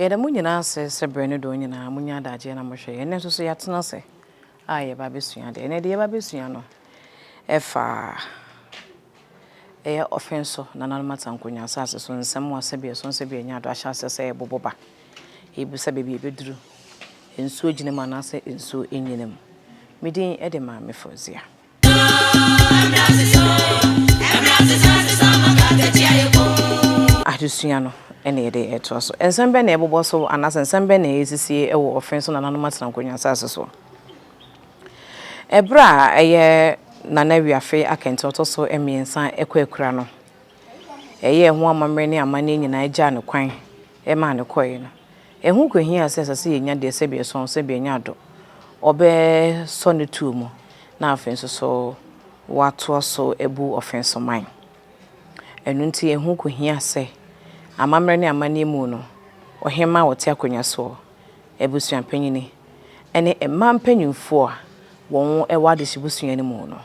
Yɛda mo nyinaa ase sɛ berɛ no dɔɔ nyinaa monya adagyeɛ na mohwɛ yɛn. Ɛnnɛ nso so yɛatena ase a yɛreba abɛsua adeɛ. Ɛnnɛ deɛ yɛreba abɛsua no fa. Ɛyɛ ɔfe nso, nananom atanko nya asase so nsɛm wɔ asɛbeɛ so, nsɛbeɛ nya do ahyɛ aseɛ sɛ ɛbobo ba, ɛbisa baabi a ɛbɛduru, nsuo gyina mu anaasɛ nsuo nnyina mu. Me din de Maame Fauzia. Adesua no na yɛde retoa so. Nsɛm bɛn na ɛbobɔ so anaasɛ nsɛm bɛn na ɛsisi wɔ ɔfe nso nananom atanko nya asase soɔ? Bere a ɛyɛ Nana Wiafe Akɛntɛ a ɔtɔ so mmiɛnsa kɔ akura no, ɛyɛɛ ho amammerɛ ne amanneɛ nyinaa gyaa no kwan maa no kɔe no, ɛho kohiaa sɛ ɛsɛ sɛ yenya deɛ sɛbi ɛsɔn sɛbi ɛnyɛ ado, wɔbɛsɔ ne tuo mu na afei nso so wɔatoa so abu ɔfensoman. Ɛno nti ɛho kohiaa sɛ amammerɛ ne amanneɛ mu no, ɔhemmaa a ɔte akonnwa soɔ, abusuampanyin ne mmaa mpanyimfo a wɔwɔ adehye busua no mu no,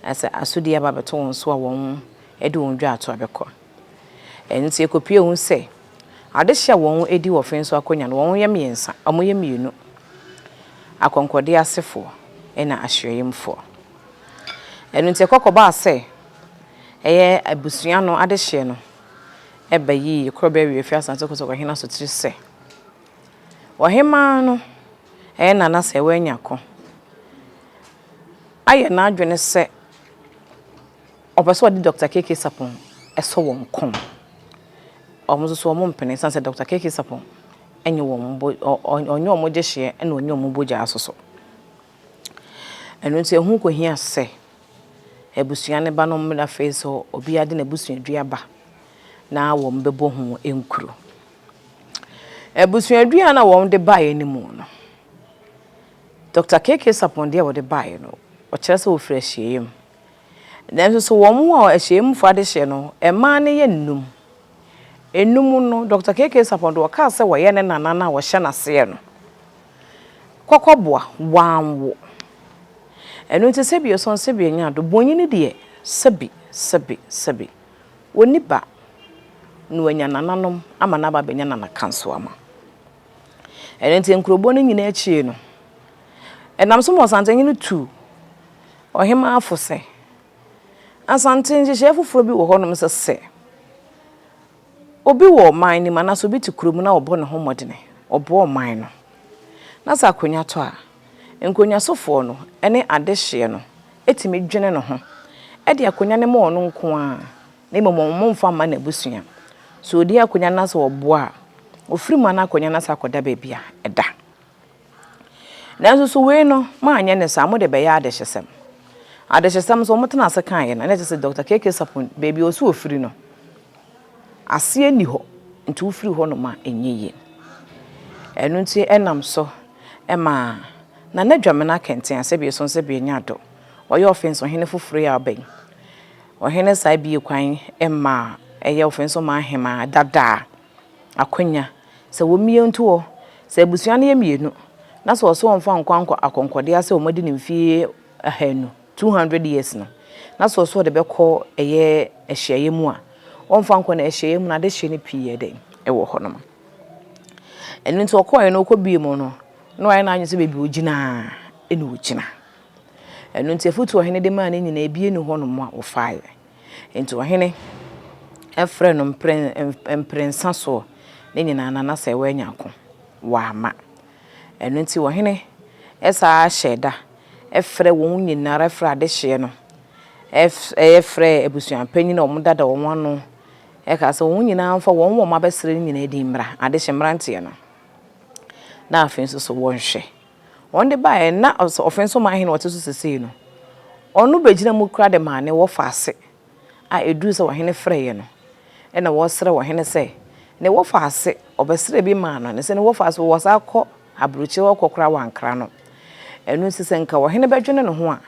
sɛ asodi aba abɛto wɔn so a, wɔde wɔn dwa ato abɛkɔ. Ɛno nti, ekopue hu sɛ adehye a wɔdi wɔ Fenso Akonnwa no, wɔyɛ mmiɛnsa, wɔyɛ mmienu, akɔnkɔde asefo na ahyiaeɛmfoɔ. Ɛno nti, ɛkɔkɔbaa sɛ ɛyɛ abusua no adehyeɛ no ɛba yiye koro bɛwe afi asase kosɔkɔ hena so tiri sɛ ɔhemmaa no ɛyɛ nana sɛ wanya ko ayɛ n'adwene sɛ ɔpɛ sɛ ɔde dɔkta keke sapon ɛsɔ wɔn kɔn wɔn nso so wɔn mpene san sɛ dɔkta keke sapon ɛnyɛ wɔn bo ɔnyɛ wɔn gyehyeɛ ɛna ɔnyɛ wɔn bogyaa soso. Ɛno nti ɛho kɔhia sɛ abusua no ba no mmrɛ afei nso obiara de n'abusuadua ba na wɔbɛbɔ ho nkuro. Abusuadua na wɔde baeɛ no mu no, Dr. KK Sapon deɛ wɔde baeɛ no, ɔkyerɛ sɛ wɔfiri ahyia mu. Nanso so wɔn a ahyia mu fo adehyeɛ no, mmaa no yɛ nnum. Nnum no, Dr. KK Sapon deɛ ɔkaa sɛ wɔyɛ ne nana no a wɔhyɛ n'aseɛ no. Kɔkɔboa, wɔanwo. Ɛno nti sɛbi ɔsɔn sɛbi ɔnya ado, bonyini deɛ sɛbi, sɛbi, sɛbi ɔnni ba na wanya nananom ama no aba abɛnya nanakansoama. Ɛno nti nkuroboɔ no nyinaa akyie no, ɛnam so ma Ɔsantehene tu ɔhemaa fo sɛ, Asante nhyehyɛeɛ foforɔ bi wɔ hɔnom sɛ sɛ Obi wɔ ɔman no mu anaasɛ obi te kuro mu na ɔbɔ ne ho mmɔdene, ɔboa ɔman no, na sɛ akonnwa tɔ a, nkonnwasofoɔ no ne adehyeɛ no tumi dwene ne ho de akonnwa no ma ɔno nko ara na mmom wɔmmfa mma n'abusua. Sɛ ɔdi akonnwa no na sɛ ɔboa a, ɔfiri mu a na akonnwa no asane akɔda baabi a ɛda. Nanso so wei no, moanyɛ no saa, mode bɛyɛ adehyesɛm. Adehyesɛm nso, wɔtenaa ase kaeɛ no, na kyerɛ sɛ Dɔkta KK. Sarpong, baabi a ɔwɔ sɛ ɔfiri no, aseɛ nni hɔ, nti wofiri hɔnom a, ɛnyɛ yie. Ɛno nti ɛnam so maa Nana Dwamena Kɛntɛn, sɛbe yɛsɔ no sɛ Bianya Ado, ɔyɛ Ɔfens Ɔhene foforɔ yi a ɔba yi. Ɔhene saa bue kwan maa ɛyɛ Ɔfens Ɔman Hemaa dada a. akwanya sɛ wɔmmie ntoɔ. Sɛ abusua no yɛ mmienu na sɛ ɔse wɔmfa nkɔ ankɔ akɔnkɔdeɛ sɛ wɔadi no mfeɛ ahanu, 200 years, no, na sɛ ɔse ɔde bɛkɔ ɛyɛ ahyiaeɛ mu a, wɔmfa nkɔ no ahyiaeɛ mu no adehyeɛ no pii yɛ dɛn? Ɛwɔ hɔ nom. Ɛno nti ɔkɔeɛ no ɔkɔbie mu no na wayɛ n'adwene sɛ baabi ɔgyina na ɔgyina. Ɛno nti afotuo a ɔhene de maa no nyinaa biara nni hɔ nom a wɔfaeɛ. Enti ɔhene frɛɛ no mprɛnsa soɔ ne nyinaa na na sɛ wanya ako, wamma. Ɛno nti ɔhene saa ara hyɛɛ da frɛɛ wɔn nyina ara frɛɛ adehyeɛ no, frɛɛ abusuapanin a wɔdada wɔn ano, kaa sɛ wɔn nyina ara mfa wɔn wɔn abɛsrɛ no nyina din mmra, adehye mmeranteɛ no, na afei nso so wɔnhwɛ. wɔn de baeɛ no na ɔsɛ ɔfɛn so man hene ɔte so sesei no ɔno bɛgyina mu kora de maa ne wɔfa ase a ɛduru sɛ ɔhene frɛeɛ no ɛna wɔsrɛ ɔhene sɛ ne wɔfa ase ɔbɛsrɛ bi maa no ne sɛ ne wɔfa ase wɔ saa kɔ aburokyire hɔ kɔ kora wankra no ɛno nti sɛ nka ɔhene bɛdwene ne ho a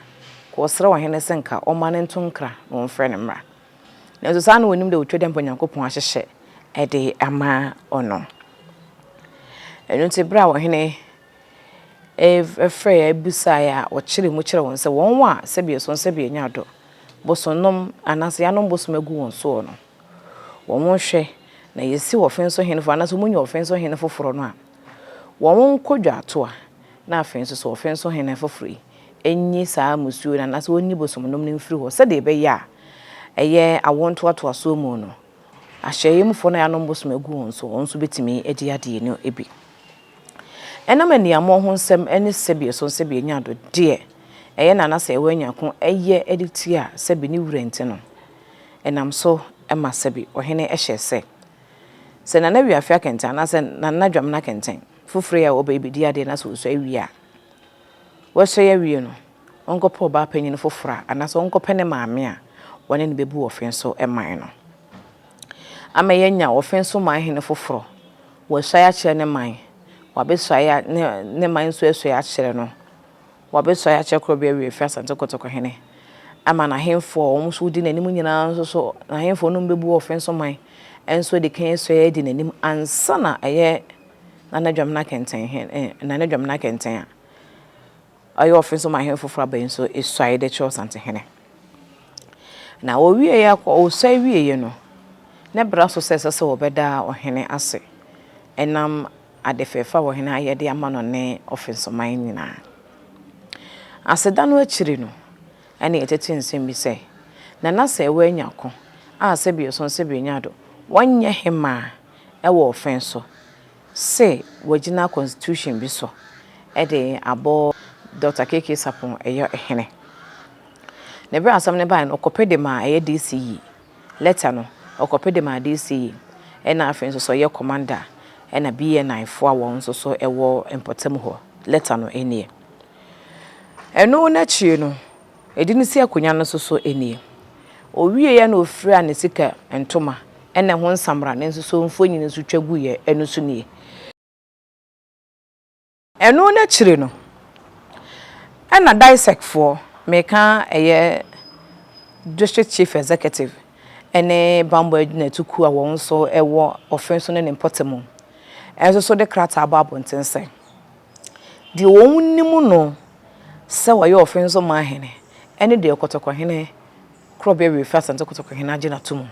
kɔ ɔsrɛ ɔhene sɛ nka ɔma no nto nkra na ɔmfrɛ ne mmra. Nanso saa na wɔnim dɛ otwa dɛ mbrɛ Nyankopɔn ahyehyɛ de ama ɔno. Ɛno ntsi ber a ɔhene frɛe a bisae a ɔkyerɛɛ mu kyerɛɛ hɔn sɛ wɔn a sɛbeɛ sɔn sɛbeɛ nya do bosonnom anaasɛ yanom bosom agu wɔn soɔ no, wɔnhwɛ na yɛsi ɔfen so hen foforɔ anaasɛ wɔnya ɔfen so hen foforɔ no a, wɔnkɔ dwaatoa na afei nso so ɔfen so hen foforɔ yi nnye saa mmusuo no anaasɛ wɔnni bosomnom no mfiri hɔ sɛdeɛ ɛbɛyɛ a ɛyɛ awoɔ ntoatoasoɔ mu no, ahyɛeɛ mufoɔ no a yɛanom bosom agu wɔn so, wɔn nso bɛtumi adi adeɛ no bi. Ɛnam aniammɔn ho nsɛm ne sɛbi so sɛbi anya do deɛ ɛyɛ na anasɛ ɛwɔ anya ko ɛyɛ de tia sɛbi ne wura nti no, ɛnam so ma sɛbi ɔhene hyɛɛ sɛ, sɛ Nana Wiafe akɛntɛn anaasɛ Nana Dwamena kɛntɛn foforɔ yi a ɔba yi bɛdi adeɛ na sɛ ɔsua wie a, Wasua awie no, ɔnkɔpɛ ɔbaa panyin foforo a, anaasɛ ɔnkɔpɛ ne maame a wɔne no bebu ɔfe so man no. Ama yɛanya ɔfe so man hene foforo. Wasuae akyerɛ ne man, wabesuae ne ne man nsuasuae akyerɛ no. Wabesuae akyerɛ Korɔbea Awiei Fie Asante Kotoko hene, ama n'ahemfo a wɔn nso wodi n'anim nyinaa nso so, n'ahemfo a wɔne no bebu ɔfe so man nso adi kan asuae adi n'anim ansa na ɛyɛ na na dwam no akɛntɛn hɛn eh, na na dwam no akɛntɛn a. Ɔyɛ ɔfe nso ma hɛn fofor aba yi nso esuae dɛ Kyerɛwsantehene. Na wowiei akɔ, osuae wiei no, ne bra so sɛ ɛsɛ sɛ wɔbɛda ɔhene ase nam ade fɛɛfɛ a ɔhene ayɛ de ama no ne ɔfe nsoman nyina. Aseda no ekyir no, nna yɛtsetse nsɛm bi sɛ, Na na sɛ woenya ko a sɛbeeso sɛbeenya do, wɔnyɛ he maa wɔ ɔfã so se wɔagyina constitution bi so de abɔ Dɔkta KK Sarpong yɔ hene. Na bere a asɛm no bae no, ɔkɔpe de maa ɛyɛ DC yi. Lɛta no, ɔkɔpe de maa DC yi, ɛna afei nso sɛ ɔyɛ commander a, ɛna BNI fo a wɔn nso so wɔ mpɔtam hɔ. Lɛta no nie. Ɛno n'akyiri no, Ɛde no si akonnwa no so so nie. Ɔwieɛ na ɔfiraa ne sika ntoma ɛna ɛho nsamra no nso so mfonin nso twa guiɛ ɛno so nie. Ɛno no akyire no ɛna DISEC foɔ, meka ɛyɛ District Chief Executive ɛne Bammɔ Agyinatu kuo a wɔn nso ɛwɔ Ɔfenso ne ne mpɔtamu ɛnso so de krataa bɔɔ abɔnten sɛ. Deɛ wɔnim no sɛ ɔyɛ Ofensoma hene ne deɛ Kɔtɔkɔhene Korɔbea Wiefi Asante Kɔtɔkɔhene agye no atom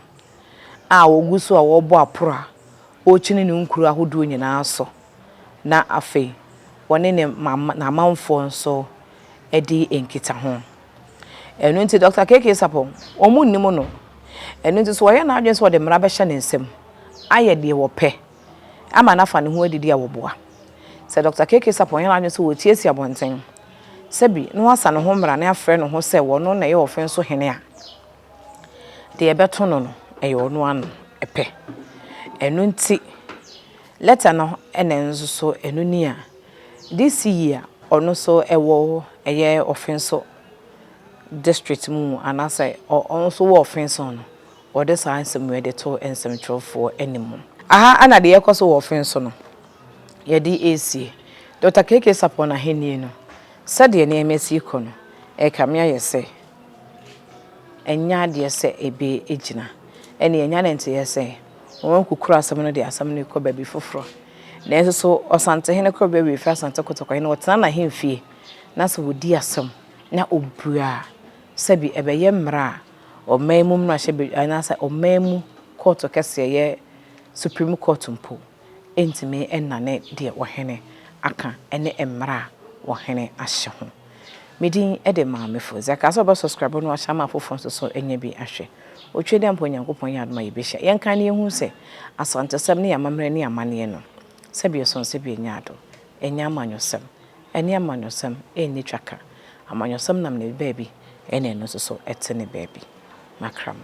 a ɔgu so a ɔrebɔ aporo a ɔrekyini ne nkuro ahodoɔ nyinaa so na afei ɔne ne n'amanfoɔ nso di nkitaho. Ɛno nti Dɔkta KK Sarpong, wɔnnim no. Ɛno nti so ɔyɛ n'adwene sɛ ɔde mmara bɛhyɛ ne nsam ayɛ deɛ ɔpɛ. ama no afa ne ho adidi a wɔboa. Sɛ Dɔkta KK Sarpong yɛ n'adwene sɛ ɔretie asi abɔnten, sɛ bi, na wasa ne ho mmara na afrɛ ne ho sɛ ɔno na ɛyɛ ɔfen so hene a, deɛ ɛbɛto no no, ɛyɛ ɔno ano pɛ. Ɛno nti, lɛta no na nso so ɛno ni a DC yi a ɔno nso wɔ ɛyɛ ɔfen so district mu anaasɛ ɔno nso wɔ ɔfen so no, Wɔde saa nsɛm wei de too nsɛmtwerɛfoɔ anim. Aha na deɛ ɛrekɔ so wɔ ɔfe nso no, yɛde resie Dɔkta KK Sarpong ahennie no. Sɛdeɛ nneɛma si rekɔ no, ɛrekame ayɛ sɛ ɛnyɛ adeɛ sɛ ɛbɛgyina. Ɛnna yɛanya ne nteeɛ sɛ wɔakukuru asɛm no de asɛm no rekɔ baabi foforɔ. Nanso so Ɔsantehene Korɔbea Awie Firi Asante Kotoko he no ɔtena n'ahemfie na sɛ ɔdi asɛm na ɔbua a, sɛbi ɛbɛyɛ mmara a ɔman mu mmarahyɛbadwa anaasɛ ɔman mu kɔɔto kɛseɛ yɛ Supreme Court mpo ntumi nnane deɛ ɔhene aka ne mmara a ɔhene ahyɛ ho. Me din de Maame Fo. Sɛ ɛkaa sɛ ɔbɛ subscribe no ahyɛ ama afoforɔ nso so nyɛ bi ahwɛ. Otwedeɛ mpo Nyankopɔn yɛ adom a yɛbɛhyia. Yɛnkae na yɛnhunu sɛ Asantesɛm ne yɛn amammerɛ ne yɛn amanneɛ no, sɛbi ɛsɔn sɛbi ɛnyɛ adom, ɛnyɛ amanyɔsɛm. Ɛne amanyɔsɛm nni twaka. Amanyɔsɛm nam ne baabi ɛna ɛno nso so ɛte ne baabi. Makra mo.